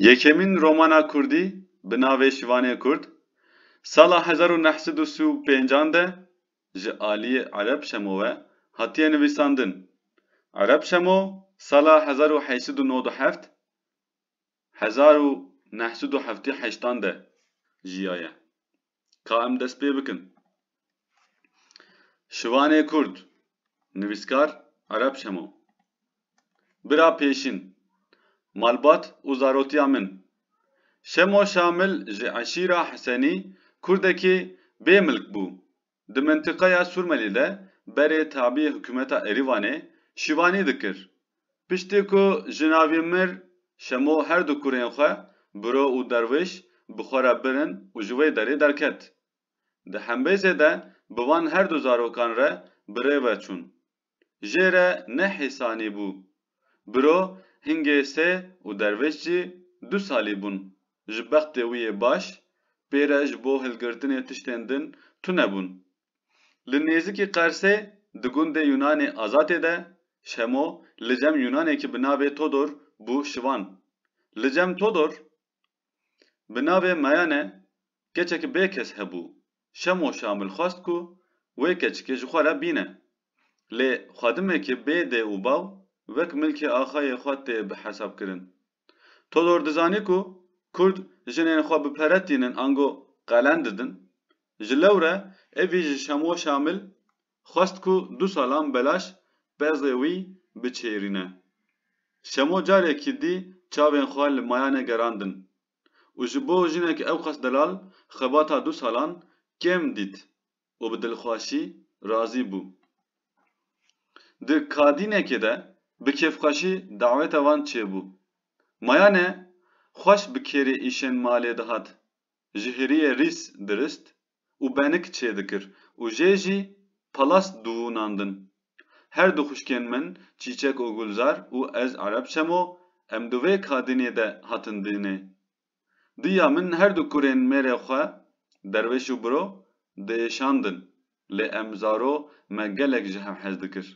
Yekemîn romana kurdî bi navê Şivanê Kurd sala hezar û neh sed û sî û pênc an de ji aliyê Ereb Şemo we hatiye nivîsandin. Ereb Şemo sala hezar û heyş sed û nod û heft hezar û neh sed û heftî heşt an de jiyaye. Ka em dest pê bikin. Şivanê Kurd, nivîskar Ereb Şemo. Bira pêşîn, malbat û zarotiya min. Şemo Şamil ji eşîra Hisenî Kurdekî bê milk bû. Di mintiqeya Sûrmelî de berê tabî hikûmeta Erîvanê şivanî dikir. Piştî ku jina vî mir, Şemo her du kurên xwe, Biro û Derwiş, bi xwe re birin û ji wê derê derket. Di hembêzê de bi van her du zarokan re bi rê ve çûn. Jê re ne hêsanî bû. Biro, hingê sê û Derwiş jî du salî bûn. Ji bextê wî yê baş, pê re ji bo hilgirtinê tiştên din tune bûn. Li nêzikî Qersê di gundê Yûnanê Azatê de Şemo li cem Yûnanekî bi navê Todor bû şivan. Li cem Todor bi navê Mayane keçek bê kes hebû. Şemo Şamil xwest ku wê keçikê ji xwe re bîne. Lê xwedimekê bê dê û bav wek milkê axayê xwe tê bihesabkirin. Todor dizanî ku Kurd jinên xwe bi pere tînin ango qelen didin. Ji lewre evî ji Şemo Şamil xwest ku du salan belaş pezê wî biçêrîne. Şemo carekî dî çavên xwe li mayanê gerandin û ji bo jinek ewqas delal xebata du salan kêm dît. û bi dilxweşî razî bû. Di kadînekê de bi kêfxweşî daweta wan çêbû. Mayane xweş bi kêrê îşên malê dihat, ji hiriyê rîs dirist û benik çêdikir û jê jî palas dûnandin. Her du xwişkên min Çîçek û Gulzar û ez Ereb Şemo em di vê kadînê de hatin dinê. Diya min her du kurên mêrê xwe Derwêş û Biro diêşandin lê em zaro me gelek ji hev hez dikir.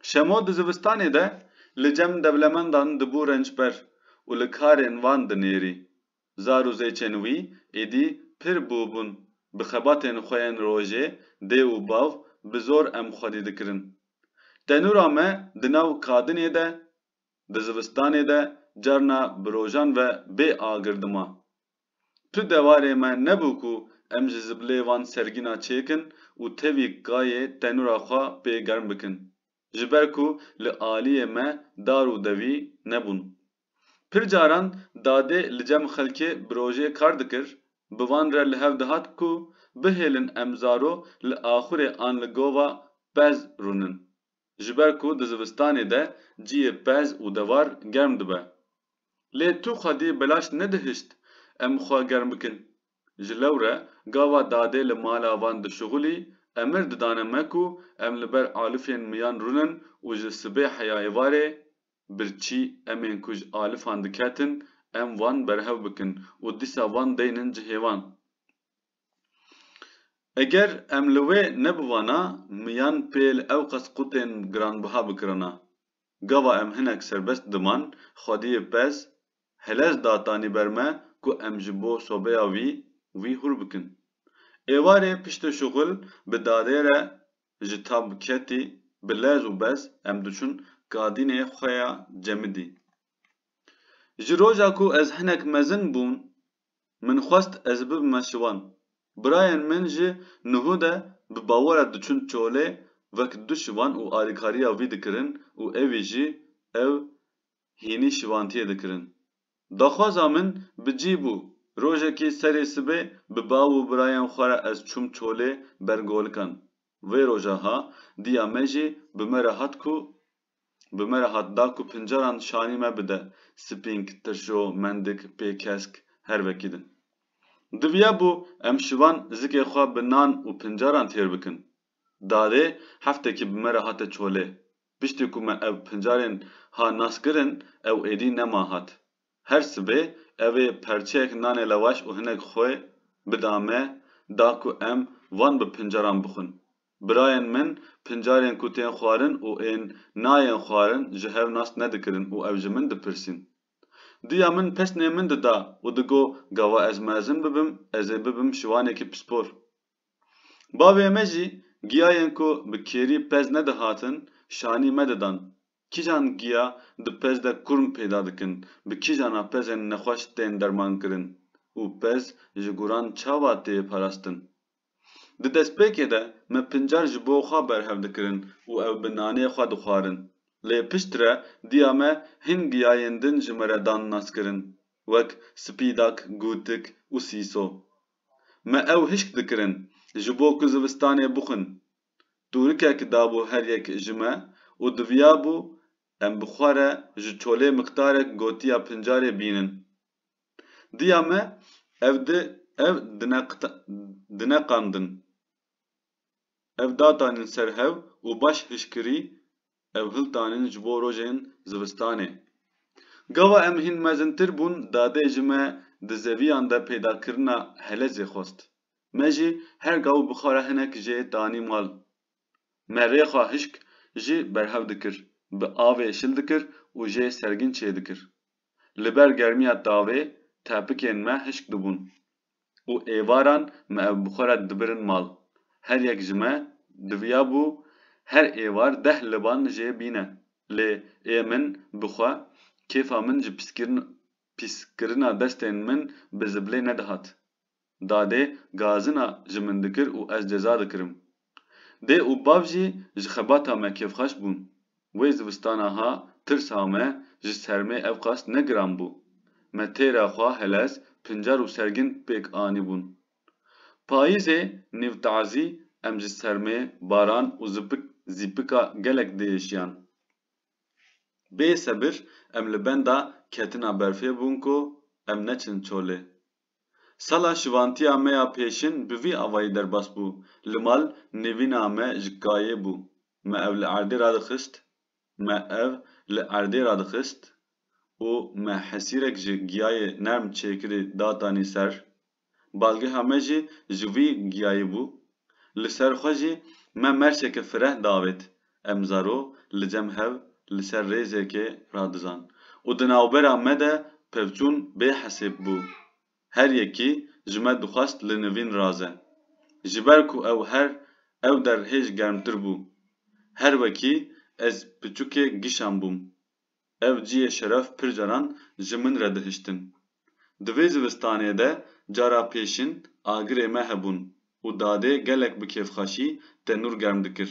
Şemo di zivistanê de li cem dewlemendan dibû rençber û li karên wan dinêrî. Zar û zêçên wî êdî pir bû bûn bi xebatên xwe yên rojê dê û bav bi zor em xwedî dikirin. Tenûra me di nav kadinê de Di zivistanê de carna bi rojan ve bê agir dima. Tu dewarê me nebû ku em ji zibilê van sergîna çêkin û tevî kayê tenûra xwe pê germ bikin. Ji ber ku li aliyê me dar û devî nebûn. Pir caran dadê li cem xelkê bi rojê kar dikir, bi van re li hev dihat ku bihêlin em zaro li axurê an li gova pez rûnin. ji ber ku di zivistanê de ciyê pez û devar germ dibe. Lê tu xwedî belaş nedihişt em xwe germ bikin. Ji lewre gava dadê li mala van dişuxulî, emir didane me ku em li ber alifên miyan rûnin û ji sibê heya êvarê, birçî emên ku ji alifan diketin, em wan berhev bikin û dîsa van deynin cihê wan. Eger em li wê nebivana miyan pêl ewqas qutên giranbiha bikirana. Gava em hinek serbest diman, xwediyê pez, hilez datanî ber me ku em ji bo sobeya wî wî hûr bikin. Êvarê piştê şuxul bi dadê re ji tab ketî, bi lez û bez em diçûn kadînê xwe ya cemidî. Ji roja ku ez hinek mezin bûm Min xwest ez bibime şivan. Birayên min ji nuhu de bi bawera diçûn çolê wek du şivan û alîkariya wî dikirin û ewî jî ew hînî şivantiyê dikirin. Daxwaza min bi cî bû. Rojekî serê sibê bi bav û birayên xwe re ez çûm çolê ber golikan. Vê roja ha diya me jî bi me re hat ku bi me re hat da ku pincaran şanî me bide, spînk, tirşo, mendik, pê, kesk, her vekî din. Diviya bû em şivan zikê xwe bi nan û pincaran têr bikin. Dadê heftekî bi me re hate çolê. Piştî ku me ev pincarên ha nas kirin ew êdî nema hat. Her sibê ev ê perçeyek nanê lewaş û hinek xwe bida me da ku em van bi pincaran bixwin. Birayên min, pincarên ku tên xwarin û ên nayên xwarin ji hev nas nedikirin û ev ji min dipirsîn. Diya min pesnê min dida û digot gava ez mezin bibim ez ê bibim şiwanekî pispor. Bavê me jî giyayên ku bi kêrî pez nedihatin şanî me didan. Kîjan giya di pez de kurm peyda dikin, bi kîjana pezên nexweş tên dermankirin û pez ji guran çawa tê parastin? Di destpêkê de me pincar ji bo xwe berhev dikirin û ew bi nanê xwe dixwarin. Lê piştre diya me hin giyayên din ji me re dan naskirin wek spîdak, gûtik û sîso. Me ew hişk dikirin ji bo ku zivistanê bixwin. Tûrikek dabû her yek ji me û diviyabû em bi xwe re ji çolê miqdarek gotiya pincarê bînin. Diya me ev di ev dineqandin. Ev datanîn ser hev û baş hişkirî ev hiltanîn ji bo rojên zivistanê. Gava em hîn mezintir bûn dadê ji me di zeviyan de peydakirina helezê xwest. Me jî her gav û bixara hinek jê danî mal. Me rêxa hişk jî berhev dikir, bi avê şil dikir û jê sergîn çêdikir. Li ber germiya tavê tepikên me hişk dibûn û êvaran me ev bi xwe re dibirin mal. Her yek ji me diviya bû her êvar deh liban jê bîne lê ê min bi xwe kêfa min ji pîskirina destên min bi zibilê nedihat. Dadê gazina ji min dikir û ez ceza dikirim. Dê û bav jî ji xebata me kêfxweş bûn. Wê zivistana ha tirs ha me ji sermê evqas ne giran bû. Me têra xwe helez, pincar û sergin pêk anîbûn. Payîzê nîv tazî em ji sermê, baran û zipik zîpika gelek diêşiyan. Bê sebir em li benda ketina berfê bûn ku em neçin çolê. Sala şivantiya me ya pêşin bi vî avayî derbas bû, Li mal nêvîna me ji kayê bû. Me ev li erdê radixist, me ev li erdê radixist û me hesîrek ji giyayê nerm çêkirî datanî ser. Balgeha me jî ji vî giyayê bû. Li ser xwe jî me merşeke fireh davêt. Em zaro li cem hev li ser rêzekê radizan û di navbera me de pevçûn bê hesêb bû. Her yekî ji me dixwest li nivîn raze. Ji ber ku ew her ew der hêj germtir bû. Her wekî ez piçûkê gişan bûm. Ev cihê şeref pir caran ji min re dihiştin. Di vê zivistanê de cara pêşin agirê me hebûn û dadê gelek bi kêfxweşî tenûr germ dikir.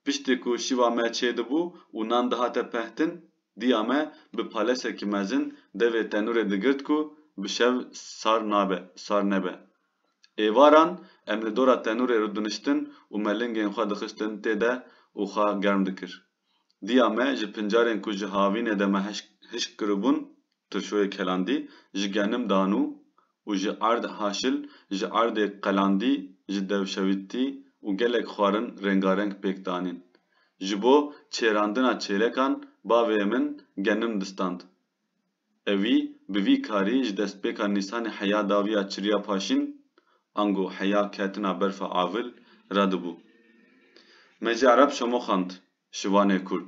Piştî ku şiva me çê dibû û nan dihate pehtin, diya me bi palesekî mezin devê tenûrê digirt ku bi şev sar nabe, sar nebe. Êvaran em li dora tenûrê rûdiniştin û me lingên xwe dixistin tê de û xwe germ dikir. Diya me ji pincarên ku ji havînê de me hişk kiribûn tirşoyê kelandî ji genim danû û ji erd haşil ji erdê qelandî ji dewşewîtî û gelek xwarin rengareng pêk danîn. Ji bo çêrandina çêlekan bavê min genim distand. Ewî bi vî karî ji destpêka Nîsanê heya daviya çiriya paşîn, ango heya ketina berfa avil, re dibû. Me jî ereb şemoxand, şivanê kurd.